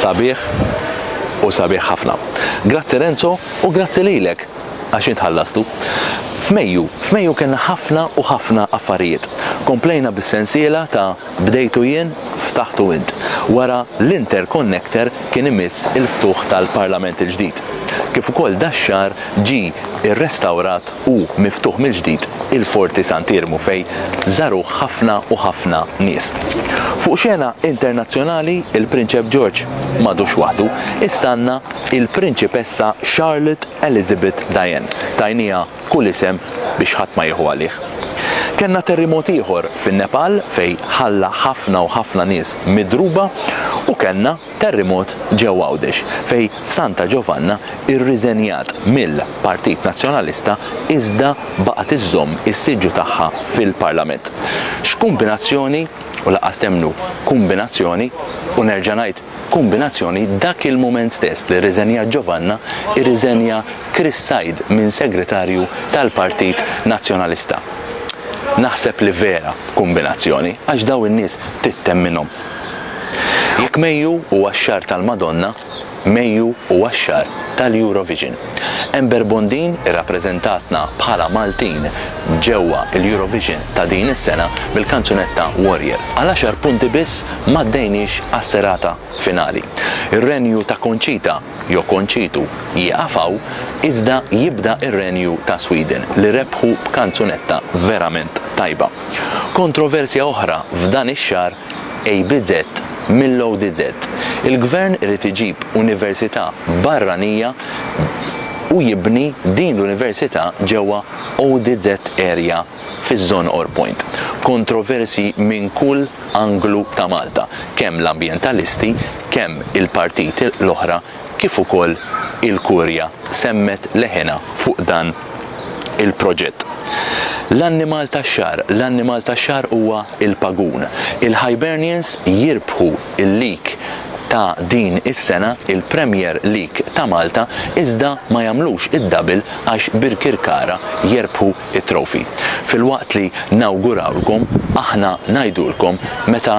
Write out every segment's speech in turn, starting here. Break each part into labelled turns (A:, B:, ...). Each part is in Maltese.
A: sabiħ u sabiħ ħafna. Grazzi Renzo u grazzi lilek għax intħallastu. F'Mejju, f'Mejju kena ħafna u ħafna affarijiet. Komplejna bis-sensiela ta' Bdejtu jien, ftaħtu int. Wara l-interconnector kien imiss il-ftuħ tal-Parlament il-ġdid. Kif ukoll dax-xahar ġie rrestawrat u miftuħ mill-ġdid il-Forti Sant'Iermu fejn żaruh ħafna u ħafna nies. Fuq xena internazzjonali il-Prinċep George m'għadux waħdu. Issa għandna il-Prinċipessa Charlotte Elizabeth Diane. Tajnieha kull isem biex ħadd ma jieħu għalih. Kellna terrimot ieħor fin-Nepal fejn ħalla ħafna u ħafna nies midruba u kellna terrimot ġewwa Għawdex fejn Santa Ġovanna irriżenjat mill-Partit Nazzjonalista iżda baqgħet iżżomm is-siġġu tagħha fil-Parlament. X'kumbinazzjoni, u lanqas temmnu, kumbinazzjoni, u nerġa' ngħid, kombinazzjoni dak il-mument stess li rriżenjat Giovanna irriżenja Chris Said minn Segretarju tal-Partit Nazzjonalista. Naħseb li vera kombinazzjoni għax daw in-nies tittemminhom. Jekk mejju huwa x-xahar tal-Madonna, mejju huwa x-xahar tal-Eurovision. Ember Bondin irrappreżentatna bħala Maltin ġewwa l-Eurovision ta' din is-sena bil-kanzunetta Warrior. Għal għaxar punti biss m'għaddejniex għas-serata finali. Ir-renju ta' Conchita, jew Konċitu, jieqaf hawn, iżda jibda r-renju ta' Sweden li rebħu b'kanzunetta verament tajba. Kontroversja oħra f'dan ix-xahar ABZ, Mill-ODZ, il-Gvern irid iġib università barranija u jibni din l-università ġewwa ODZ area fiż-żona Orpoint. Kontroversji minn kull anglu ta' Malta, kemm l-ambjentalisti, kemm il-partiti l-oħra kif ukoll il-Kurja semmet leħinha fuq dan il-proġett. L-annimal tax-xahar, l-annimal tax-xahar huwa l-pagun. Il-Hibernians jirbħu l-lig ta' din is-sena, il-Premier League ta' Malta, iżda ma jagħmlux id-double għax Birkirkara jerbħu t-trophy. Filwaqt li nawgurawlkom, aħna ngħidulkom meta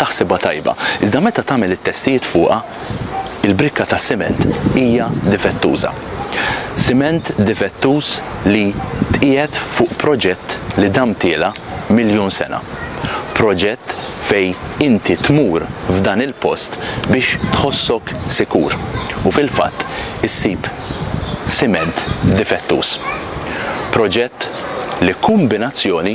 A: taħsibha tajba, iżda meta tagħmel it-testijiet fuqha, il-brikka tas-siment hija difettuża. Siment difettuż li tqiegħed fuq proġett li damtielha miljun sena. Proġett fejn inti tmur f'dan il-post biex tħossok sikur u fil-fatt issib siment difettuż. Proġett li kombinazzjoni